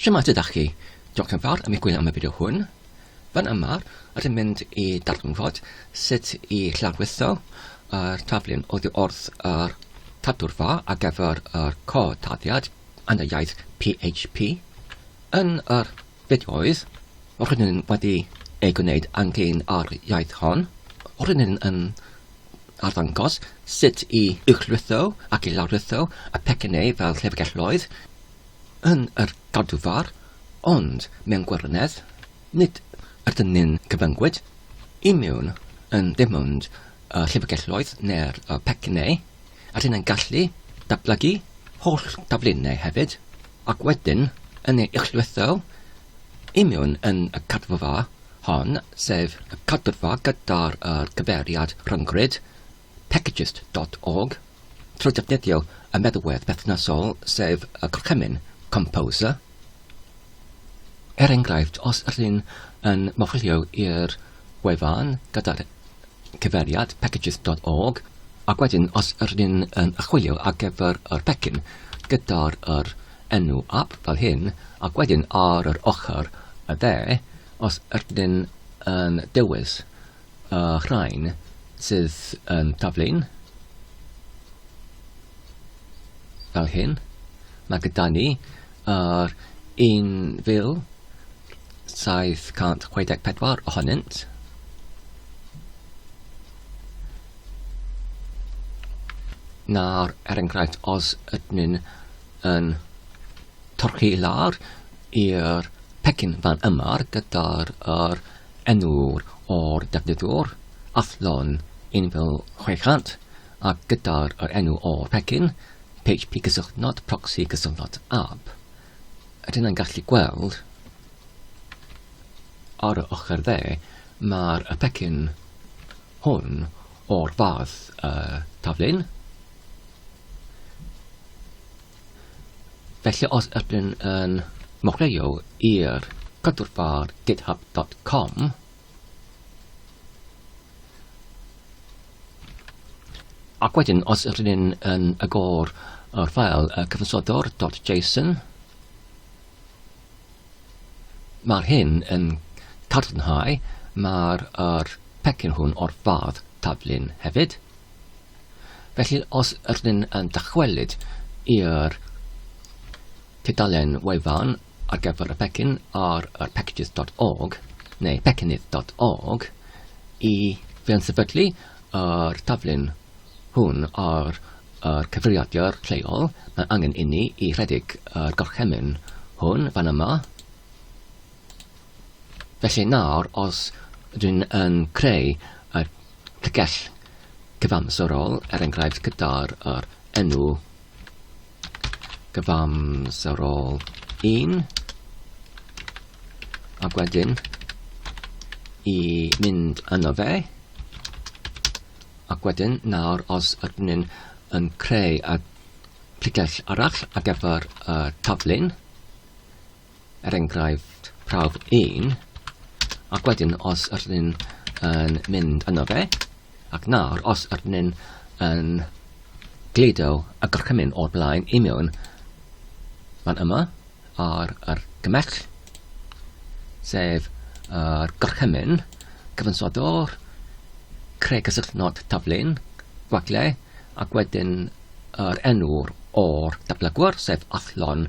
Shwmae tyd dach chi? Diolch yn fawr am eich gwylio am y fideo hwn. Fan yma, rydym mynd i darganfod sut i lawrlwytho yr taflen oddi wrth yr tadwr fa ar gyfer yr cod taddiad yn y iaith PHP. Yn yr fideoedd rydym wedi ei gwneud ynglyn â'r iaith hon, rydym yn arddangos sut i uwchlwytho ac i lawrlwytho y pecynnau fel llyfrgelloedd, yn yr Adwfar, ond mewn gwirionedd, nid ydyn ni'n cyfyngwyd i mewn yn dim ond y llyfrgelloedd neu'r pecynnau, rydyn ni'n gallu datblygu holl daflunau hefyd, ac wedyn yn ei uchllwytho i mewn yn y cadwfa hon, sef y cadwfa gyda'r cyfeiriad rhyngrwyd Packages dot org, trwy ddefnyddio y meddalwedd perthnasol, sef y gorchymyn Composer. Er enghraifft, os rŷn yn mawrlio i'r wefan gyda'r cyfeiriad packages dot org, ac wedyn os rŷn yn archwilio ar gyfer yr pecyn gyda'r yr enw ap fel hyn, ac wedyn ar yr ochr y dde, os rŷn yn dewis y rhain sydd yn taflu'n fel hyn. Mae gyda ni yr 1,764 ohonynt. Nawr, er enghraifft, os ydyn yn torchi lawr i'r pecyn fan yma gyda'r er enw'r o'r defnyddiwr, athlon 1600, a gyda'r yr enw o'r pecyn, php cysylltnod proxy cysylltnod ab. Rydyn yn gallu gweld ar y ochr dde, mae'r y pecyn hwn o'r fath uh, taflun, Felly os ydych chi'n yn mocleio i'r cadwrfar github.com, ac wedyn os ydych chi'n yn agor yr ffael uh, cyfansodwr.json, mae'r hyn yn cadarnhau mae'r er pecyn hwn o'r fath taflun hefyd. Felly, os ydyn yn dychwelyd i'r tudalen wefan ar gyfer y pecyn ar yr packages.org neu pecynydd.org i feunsefydlu yr taflen hwn ar yr cyfrifiadur lleol, mae angen inni i rhedeg yr gorchymyn hwn fan yma. Felly nawr os rŷn yn creu y llygells cyfamserol, er enghraifft gyda'r yr enw cyfamserol 1, ac wedyn i mynd yno fe, ac wedyn nawr os ydyn ni'n yn creu y llygells arall ar gyfer y taflun, er enghraifft prawf 1, ac wedyn os ydyn ni'n yn mynd yno fe, ac nawr os ydyn ni'n yn gludo y gorchymyn o'r blaen i mewn fan yma ar yr gymell, sef yr gorchymyn cyfansoddwr, creu cysylltnod taflun, gwagle, ac wedyn yr enw'r o'r datblygwr, sef athlon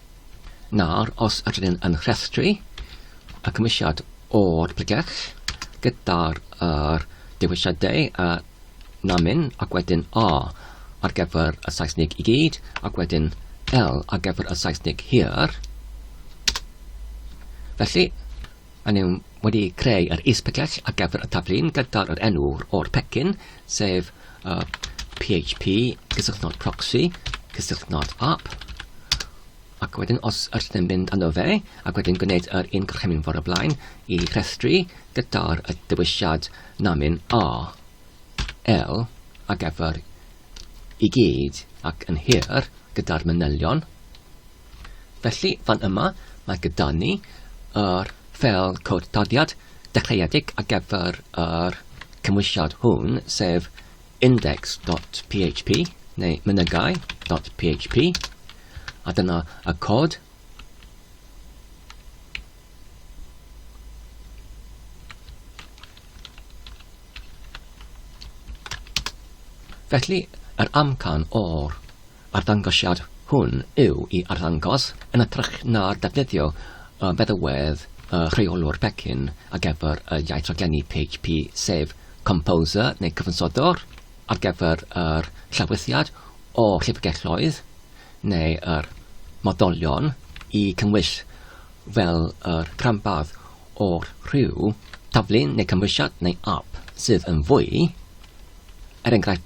Nawr, os ydyn ni'n yn rhestru y cymwysiad o'r pregeth gyda'r er, dewisiadau a namin ac wedyn A ar gyfer y Saesnig i gyd ac wedyn L ar gyfer y Saesnig hir. Felly, Maen nhw wedi creu yr is-package ar gyfer y taflu'n gynta o'r enw o'r pecyn, sef uh, php cysylltnod proxy cysylltnod app. Ac wedyn os ydych yn mynd â fe, ac wedyn gwneud yr un gorchymyn fawr y blaen i rhestru gyda'r dewisiad namin A, L a gyfer i gyd ac yn hir gyda'r manylion Felly, fan yma, mae gyda ni yr ffeil cod tarddiad dechreuedig ar gyfer yr cymwysiad hwn, sef index.php neu mynygai.php, a dyna y cod Felly, yr amcan o'r arddangosiad hwn yw i arddangos, yn hytrach na defnyddio y feddalwedd y rheolwr pecyn ar gyfer y iaith raglenni PHP, sef composer neu cyfansoddwr ar gyfer yr llawrythiad o llyfrgelloedd neu yr modolion i cynnwys fel yr rhanbarth o'r rhyw, taflen neu cymwysiad neu ap sydd yn fwy, er enghraifft,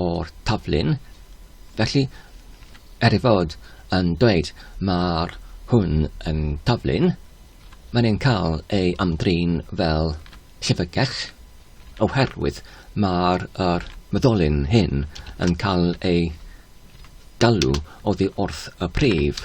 o'r taflun, felly er ei fod yn dweud mae'r hwn yn taflun, mae'n ein cael ei ymdrin fel llyfrgell, oherwydd mae'r yr myddolyn hyn yn cael ei galw oddi wrth y prif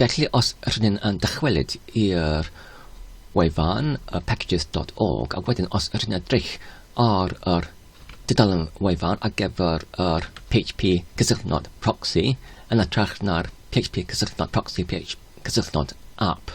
Felly os rŷn ni'n dychwelyd i'r wefan packages dot org a wedyn os rŷn ni'n edrych ar yr dudalen wefan ar gyfer yr PHP cysylltnod proxy yn hytrach na'r PHP cysylltnod proxy PHP cysylltnod app.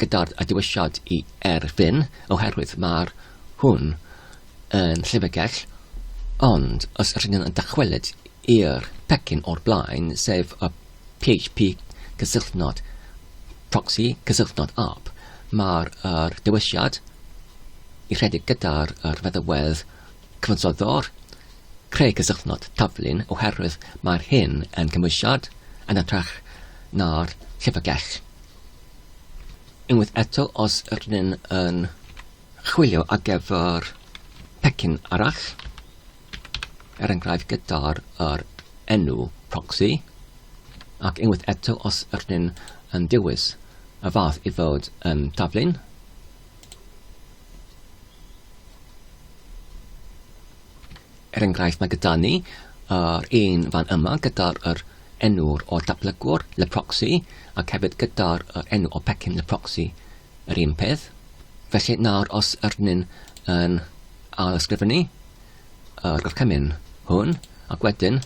gyda'r diwylliant i Erfyn oherwydd mae'r hwn yn llyfrgell ond os rydyn yn dychwelyd i'r pecyn o'r blaen sef y php cysylltnod proxy cysylltnod app mae'r er diwylliant i rhedeg gyda'r er feddywedd cyfansoddwr creu cysylltnod taflun oherwydd mae'r hyn yn cymwysiad yn ytrach na'r llyfrgell Unwaith eto, os ydyn ni'n yn chwilio ar gyfer pecyn arall, er enghraifft gyda'r er enw proxy, ac unwaith eto os ydyn ni'n yn dewis y fath i fod yn taflun, Er enghraifft, mae gyda ni yr un fan yma gyda'r yr enw'r o'r datblygwr, le proxy, ac hefyd gyda'r yr enw o pecyn le proxy, yr un peth. Felly nawr os yr ni'n yn ail ysgrifennu yr gorchymyn hwn, ac wedyn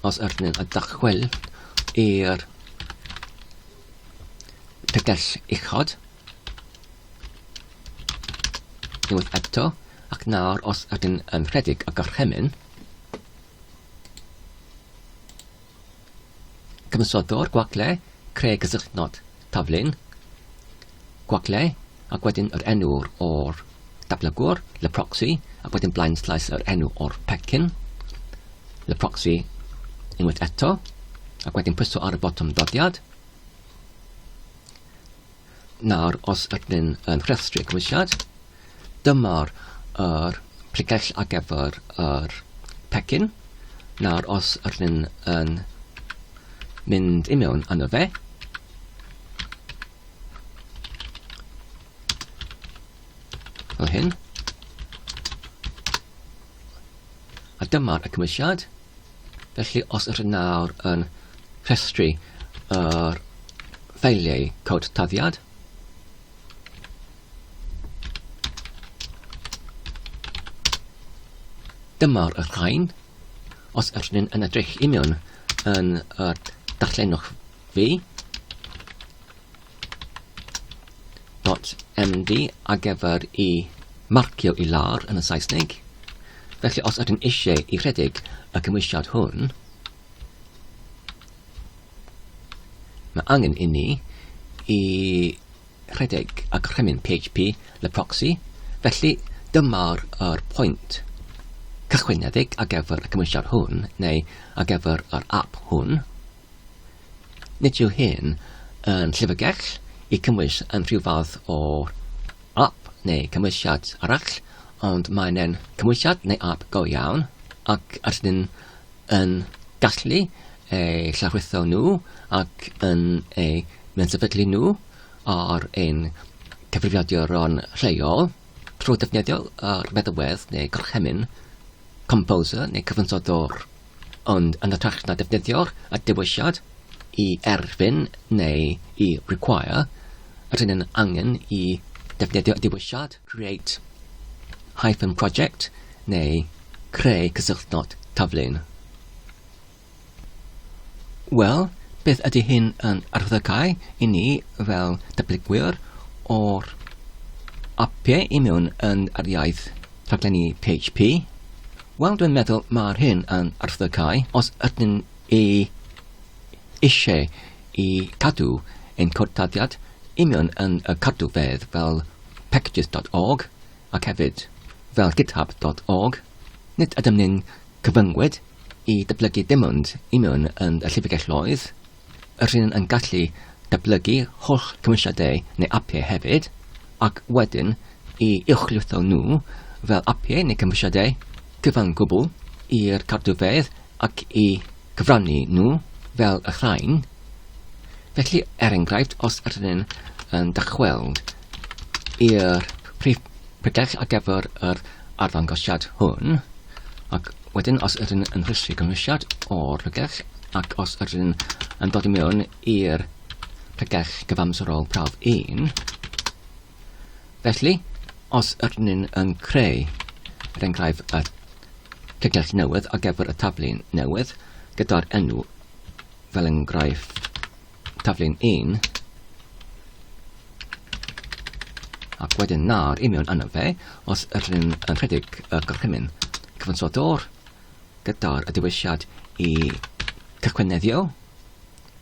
os yr ni'n y dachwel i'r pegell uchod, Unwaith eto, ac nawr os ydyn yn rhedeg y gorchymyn, cyfansoddwr gwagle creu cysylltnod taflun gwagle ac wedyn yr enw o'r datblygwr, le proxy, ac wedyn blaen slaes yr enw o'r pecyn, le proxy unwaith eto, ac wedyn pwyso ar y botwm dodiad. Nawr os ydyn yn rhestru cymwysiad, dyma'r yr pregell ar gyfer yr pecyn. Nawr os ydyn yn mynd i mewn yno fe, fel hyn, a dyma'r y cymwysiad. Felly os ydych chi nawr yn rhestru yr ffeiliau cod taddiad, Dyma'r y rhain. Os ydych chi'n yn edrych union yn y darllenwch fi, .md ar gyfer i marcio i lawr yn y Saesneg. Felly os ydym eisiau i rhedeg y cymwysiad hwn, mae angen i ni i rhedeg y cremyn PHP le proxy, felly dyma'r er pwynt cychwynedig ar gyfer y cymwysiad hwn, neu ar gyfer yr app hwn. Nid yw hyn yn llyfrgell i cymwys yn rhyw fath o ap neu cymwysiad arall, ond mae'n e'n cymwysiad neu ap go iawn, ac rydyn ni'n yn gallu ei llawrlwytho nhw ac yn ei mensefydlu nhw ar ein cyfrifiaduron lleol trwy ddefnyddio'r meddalwedd neu gorchymyn Composer neu cyfansoddwr Ond yn hytrach na defnyddio'r dewisiad 'i erfyn' neu 'i require', rydyn yn angen i ddefnyddio y dewisiad 'create hyphen project' neu 'creu cysylltnod taflun'. Wel, beth ydy hyn yn arddegau i ni fel datblygwyr o'r apiau i mewn yn yr iaith rhaglenni PHP? Wel dwi'n meddwl mae'r hyn yn arthygau os ydyn ni eisiau i cadw ein cortadiad union yn y cadwfedd fel packages.org ac hefyd fel github.org, nid ydym ni'n cyfyngwyd i dyblygu dim ond union yn y llyfrgelloedd Rydyn yn gallu datblygu holl cymwysiadau neu apiau hefyd, ac wedyn i uwchlwytho nhw fel apiau neu gymwysiadau cyfan gwbl i'r cartrfeydd ac i gyfrannu nhw fel y rhain. Felly, er enghraifft, os rydyn yn dychweld i'r prif pregell ar gyfer yr arddangosiad hwn, ac wedyn os ydyn yn rhestru cynhwysiad o'r pregeth ac os ydyn yn dod i mewn i'r pregeth gyfamserol prawf 1, felly os ydyn yn creu er enghraifft y pregeth newydd ar gyfer y tablu newydd gyda'r enw fel enghraifft Taflu'n un. Ac wedyn nawr i mewn yno fe, os ydyn ni'n yn rhedeg y gorchymyn cyfansodwr gyda'r dewisiad i cychwyneddio,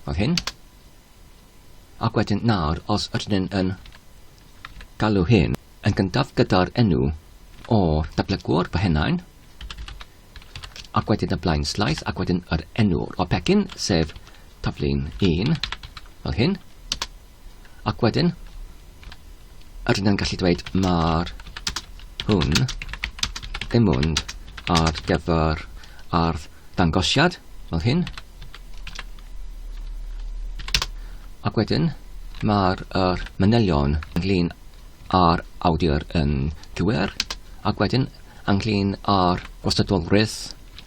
fel hyn. Ac wedyn nawr, os ydyn ni'n yn galw hyn yn gyntaf gyda'r enw o dablygwr, fel hynna'n, ac wedyn y blaenslaes ac wedyn yr enw o'r pecyn, sef taflu'n un, fel hyn, ac wedyn yr yna'n gallu dweud mae'r hwn ddim ond ar gyfer ardd dangosiad, fel hyn, ac wedyn mae'r er manylion ynglyn â'r awdur yn cywir, ac wedyn ynglŷn â'r gwastadolrwydd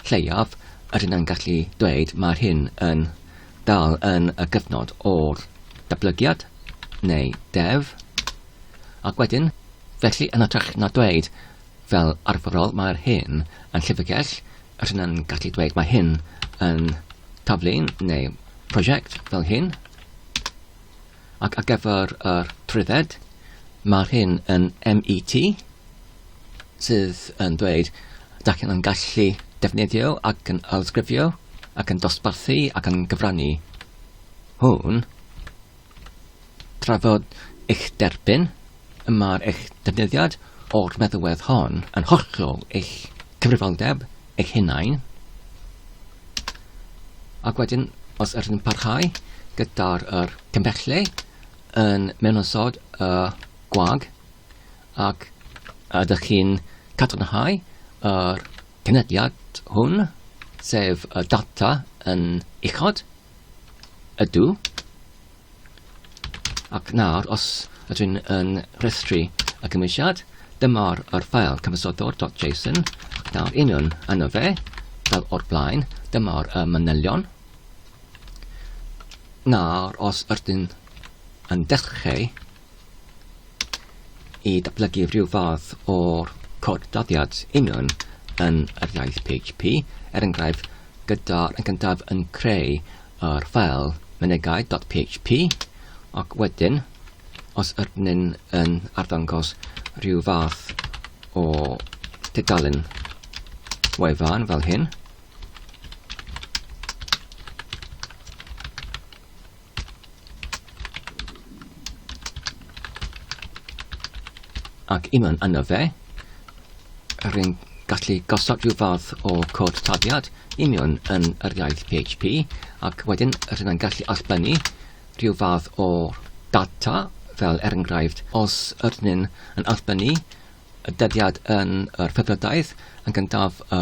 lleiaf, yr hyn yn gallu dweud mae'r hyn yn dal yn y gyfnod o'r datblygiad, neu dev, ac wedyn, felly yn hytrach na dweud fel arferol mae'r hyn yn llyfrgell, yr hyn yn gallu dweud mae hyn yn taflu'n neu prosiect fel hyn, Ac ar gyfer yr trwydded, mae'r hyn yn MET sydd yn dweud dach chi'n yn gallu defnyddio ac yn ailsgrifio ac yn dosbarthu ac yn gyfrannu hwn trafod eich derbyn y mae'r eich defnyddiad o'r meddalwedd hon yn hollol eich cyfrifoldeb eich hunain Ac wedyn, os ydych chi'n parhau gyda'r er cymbellau yn mewnosod y uh, gwag ac ydych chi'n cadarnhau yr cynediad hwn, sef y data yn uchod, ydw, Ac nawr, os ydw i'n yn rhestru y cymwysiad, dyma'r yr ffael cyfysodwr.json, ac nawr union yno fe, fel o'r blaen, dyma'r y manylion. Nawr, os ydyn yn dechrau i datblygu rhyw fath o cod dyddiad union yn yr iaith PHP, er enghraifft, gyda yn gyntaf yn creu yr ffael mynegai.php ac wedyn, os ydyn yn arddangos rhyw fath o tudalen wefan fel hyn, ac unwaith yna fe, rwy'n gallu gosod rhyw fath o cod taliad i mewn yn yr iaith PHP ac wedyn rydyn ni'n gallu allbynnu rhyw fath o data fel er enghraifft os ydyn ni'n allbynnu y dyddiad yn yr Phebyrdaidd yn gyntaf y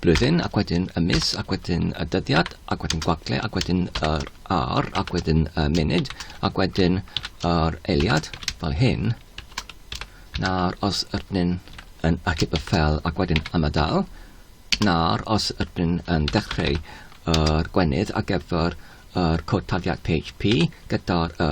blwyddyn ac wedyn y mis ac wedyn y dyddiad ac wedyn gwagle ac wedyn yr ar ac wedyn y munud ac wedyn yr eiliad fel hyn. Nawr os ydyn ni'n yn ateb y ffel ac wedyn ymadael, nawr os ydyn ni'n yn dechreu yr gwenydd ar gyfer yr cod tafiad PHP gyda'r y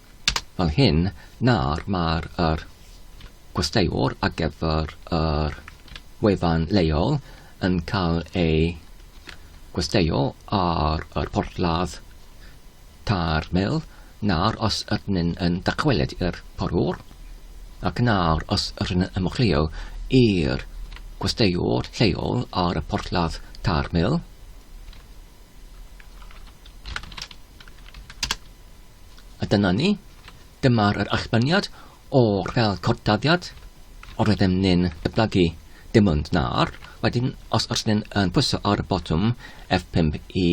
fel hyn, nawr mae'r yr gwesteiwr ar gyfer yr wefan leol yn cael ei gwesteio ar yr porthladd ta'r mil, nawr os ydyn ni'n yn dychwelyd i'r porwr, ac nawr os ydyn ni'n ymchwilio i'r gwesteiwr lleol ar y porthladd ta'r mil, A dyna ni, dyma'r yr allbaniad o'r fel cordaddiad o'r oeddem ni'n dyblygu dim ond nawr. Wedyn, os oes ni'n yn pwyso ar y botwm F5 i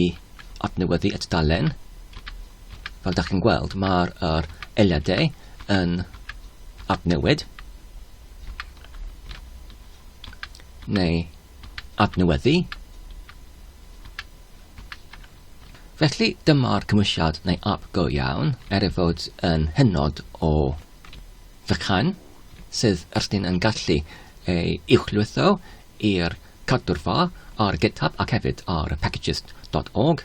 adnewyddu y tudalen, fel da chi'n gweld, mae'r er eiliadau yn adnewid, neu adnewyddu, Felly dyma'r cymwysiad neu ap go iawn, er ei fod yn hynod o fychan, sydd ysdyn yn gallu ei uwchlwytho i'r cadwrfa ar GitHub ac hefyd ar packages dot org.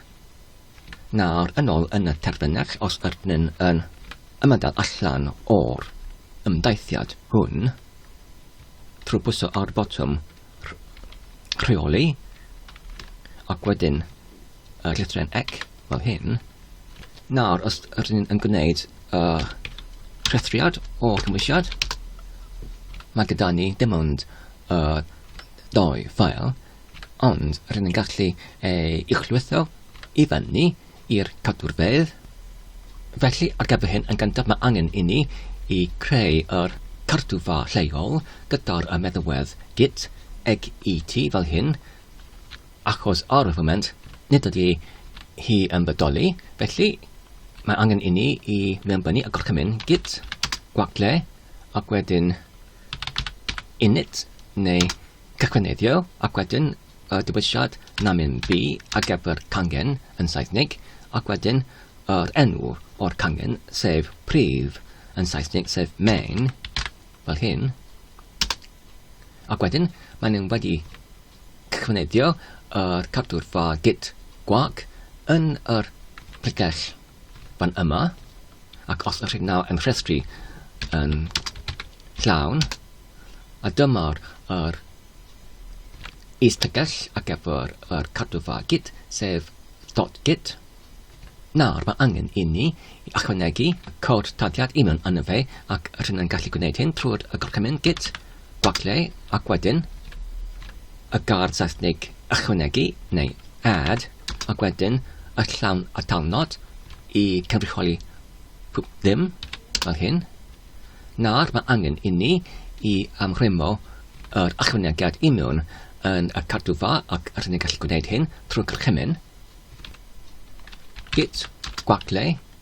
Nawr yn ôl yn y terfynach, os ydyn yn ymadael allan o'r ymdaithiad hwn, trwy bwyso ar y botwm rheoli ac wedyn uh, llythren ec fel hyn. Nawr, os ydyn ni'n gwneud uh, rhethriad o cymwysiad, mae gyda ni dim ond uh, doi ffael, ond rydyn ni'n gallu ei uchlwytho i fyny i'r cadwrfeydd. Felly, ar gyfer hyn, yn gyntaf mae angen inni i creu yr cardwfa lleol gyda'r y meddywedd git eg i ti fel hyn, achos ar y foment nid ydy hi yn bodoli, felly mae angen inni i mewnbynnu y gorchymyn git gwagle ac wedyn init neu Cychwyneddio, ac wedyn y dewisiad Namin B ar gyfer cangen yn Saesneg, ac wedyn yr enw o'r cangen, sef prif yn Saesneg, sef main, fel hyn. Ac wedyn, maen nhw'n wedi cychwyneddio yr cadwrfa git gwag yn yr plicell fan yma, ac os ydych chi'n nawr yn rhestru yn llawn, a dyma'r yr is-tegell ar gyfer yr cadwfa git, sef dot git. Nawr, mae angen i ni i ychwanegu cod tadiad union yn y fe, ac rydyn yn gallu gwneud hyn trwy'r gorchymyn git Falle, ac wedyn, y gard Seithnig ychwanegu, neu add, ac wedyn y llawn atalnod i cynrychioli pob dim, fel hyn. Nawr, mae angen inni i ymrwymo yr ychwanegiad i mewn yn y cardufa ac rydyn ni'n gallu gwneud hyn trwy gorchymyn git gwagle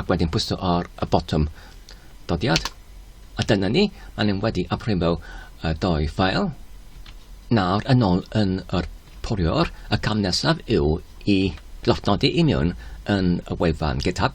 Ac wedyn pwyso ar y botwm dodiad. A dyna ni, a ni'n wedi amrhywio y doi ffael. Nawr yn ôl yn yr poriwr, y cam nesaf yw i lofnodi i mewn yn y wefan GitHub.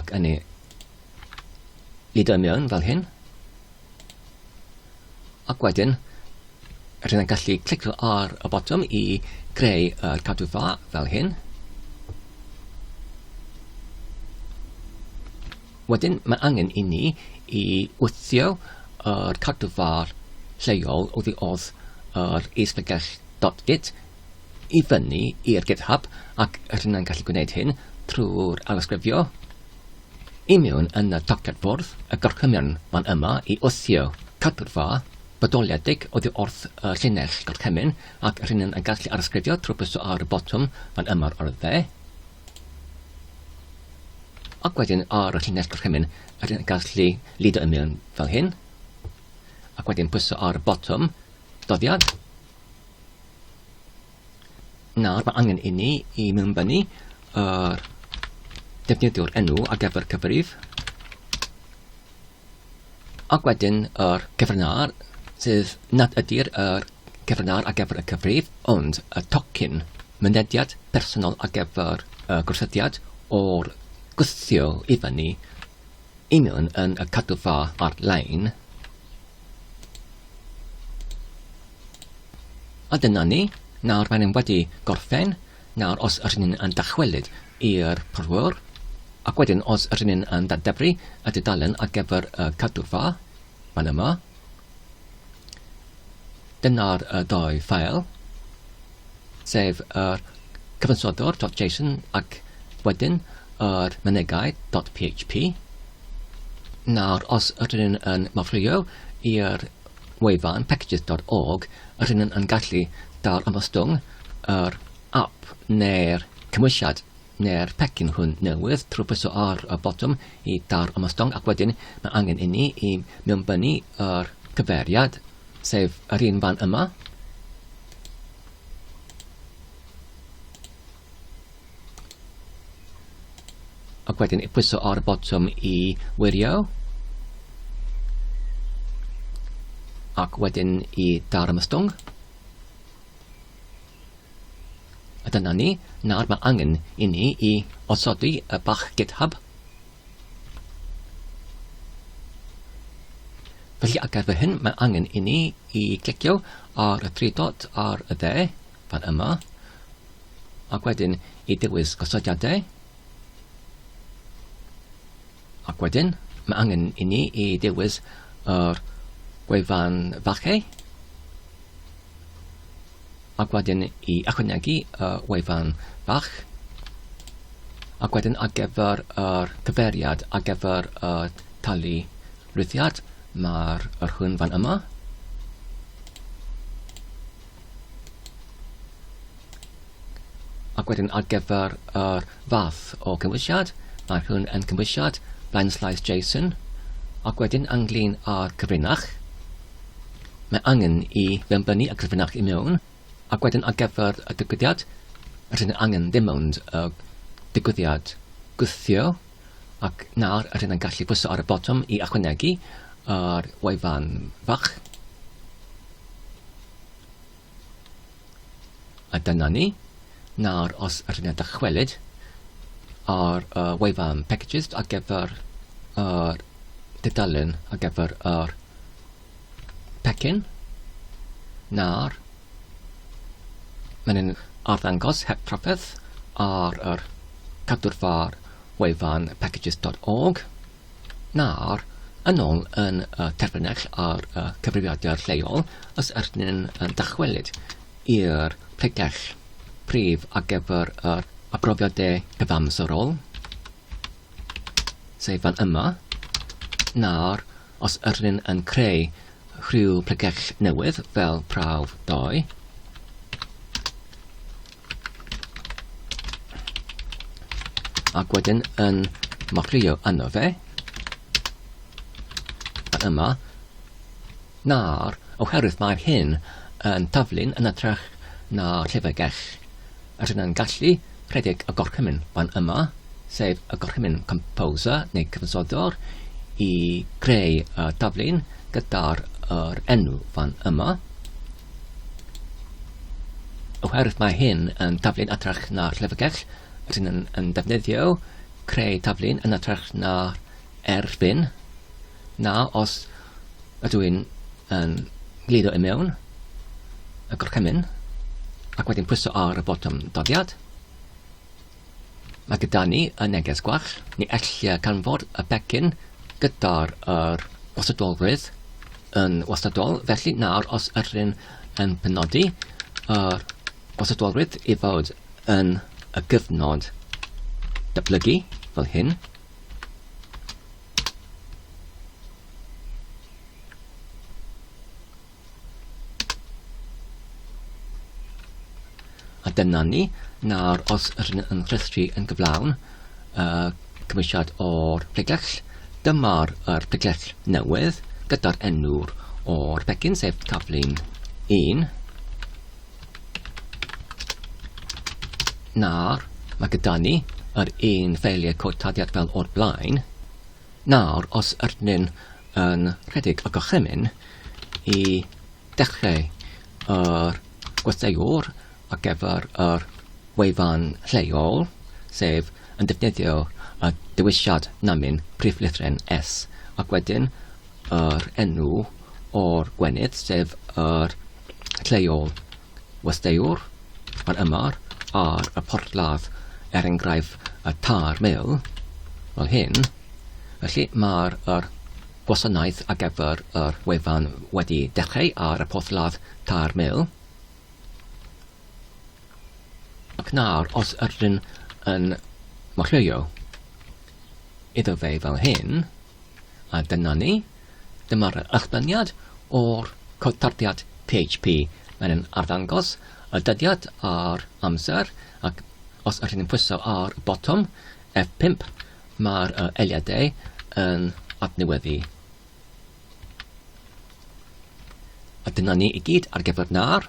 Ac yn ei lido i mewn fel hyn. Ac wedyn, rydyn ni'n gallu clicio ar y botwm i greu y cadw fa fel hyn. Wedyn, mae angen i ni i wthio yr cadw fa lleol oddi wrth yr isbygell dot git i fyny i'r GitHub ac rydyn yn gallu gwneud hyn trwy'r ailysgrifio i mewn yn y tocled bwrdd, y gorchymyn fan yma i wthio cadw'r fa bodoliedig oddi wrth y llinell gorchymyn ac rydyn yn gallu ailysgrifio trwy bwyso ar y botwm fan yma o'r dde ac wedyn ar y llinell gorchymyn rydyn yn gallu lido i mewn fel hyn ac wedyn pwyso ar y botwm doddiad Nawr mae angen i ni i mewnbynnu yr defnyddiwr enw ar gyfer cyfrif ac wedyn yr cyfrnar, sydd nad ydy'r er cyfrnar ar gyfer y cyfrif, ond y tocyn mynediad personol ar gyfer y gwrsyddiad o'r gwthio i fyny union yn y cadwfa ar-lein. A dyna ni, nawr mae'n wedi gorffen, nawr os ydyn ni'n yn dychwelyd i'r porthwr, ac wedyn os ydyn ni'n yn dadebru y dudalen ar gyfer y cadwfa, fan yma, Dyna'r ddau ffeil, sef yr cyfansodwr.json ac wedyn yr mynegai.php. Nawr, os ydyn nhw'n yn mafrio i'r wefan packages.org, ydyn nhw'n yn gallu dal ymostwng yr app neu'r cymwysiad Neu'r pecyn hwn newydd, trwpaso ar y botwm i daw'r ymostwng ac wedyn mae angen inni i mewnbynnu yr cyfeiriad, sef yr un fan yma. Ac wedyn i pwyso ar y botwm i wirio. Ac wedyn i daw'r ymostwng. A dyna ni, nawr mae angen i ni i osodi y bach GitHub. Felly ar gyfer hyn mae angen i ni i glicio ar y tri dot ar y dde, fan yma, ac wedyn i dewis gosodiadau. Ac wedyn, mae angen i ni i ddewis yr gwefan falle, ac wedyn i ychwanegu y wefan fach, ac wedyn ar gyfer yr cyfeiriad ar gyfer y talu rhithiad, mae'r yr hwn fan yma. Ac wedyn ar gyfer yr fath o cymwysiad, mae hwn yn cymwysiad blaenllaes JSON, ac wedyn ynglyn â'r cyfrinach, mae angen i fenbynu y cyfrinach i mewn, ac wedyn ar gyfer y digwyddiad, rydyn yn angen dim ond y digwyddiad gwthio, ac nawr rydyn yn gallu pwyso ar y botwm i ychwanegu yr wefan fach. A dyna ni. Nawr, os ydych chi'n dychwelyd ar y wefan packages ar gyfer yr dudalen ar gyfer yr pecyn, nawr, mae'n yn arddangos heb trafferth ar yr cadwrfa wefan packages.org. Nawr, yn ôl yn y terfynell a'r y cyfrifiadur lleol, os ydyn yn dychwelyd i'r pregell prif ar gyfer yr arbrofiadau cyfamserol, sef fan yma, nawr, os ydyn yn creu rhyw pregell newydd fel prawf 2, Ac wedyn yn macrio yno fe. A yma. Nawr, oherwydd mae'r hyn yn taflu'n yn atrach na llyfrgell, yr hyn yn gallu rhedeg y gorchymyn fan yma, sef y gorchymyn composer neu cyfansoddwr i greu y taflu'n gyda'r enw fan yma. Oherwydd mae hyn yn taflu'n hytrach na'r llyfrgell, rydyn yn, yn defnyddio creu taflu'n yn hytrach na'r erbyn. Na, os ydw i'n yn glido i mewn y gorchymyn ac wedyn pwyso ar y botwm doddiad, Mae gyda ni y neges gwach, ni ellir canfod y pecyn gyda'r yr wastadolrwydd yn wastadol, felly nawr os ydyn yn penodi yr wastadolrwydd i fod yn y gyfnod datblygu fel hyn, A dyna ni. Nawr, os rydyn yn rhestru yn gyflawn, uh, cymwysiad o'r pregell, dyma'r er pregell newydd gyda'r enw'r o'r pecyn, sef taflun 1. Nawr, mae gyda ni yr un ffeiliau cod tadiad fel o'r blaen, Nawr, os ydyn ni'n yn rhedeg y gorchymyn i dechrau yr gweithiwr ar gyfer yr wefan lleol, sef yn defnyddio y dewisiad namin prif lythren S ac wedyn yr enw o'r gwenith, sef yr lleol Westeiwr, yr ymar, ar y porthladd, er enghraifft y Tair Mil, fel hyn. Felly, mae'r yr gwasanaeth ar gyfer yr wefan wedi dechrau ar y porthladd Tair Mil. Ac nawr, os ydyn yn marchio iddo fe fel hyn, a dyna ni. Dyma'r echddyniad o'r cytarddiad PHP. Mae'n yn arddangos y dyddiad a'r amser ac os ydych chi'n pwyso ar y botwm F5 mae'r eiliadau yn adnewyddu. A dyna ni i gyd ar gyfer nawr.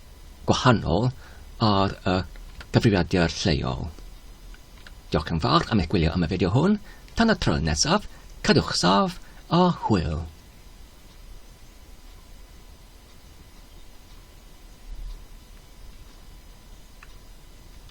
gwahanol ar y cyfrifiadur lleol. Diolch yn fawr am eich gwylio am y fideo hwn. Tan y tro nesaf, cadwch saf a hwyl.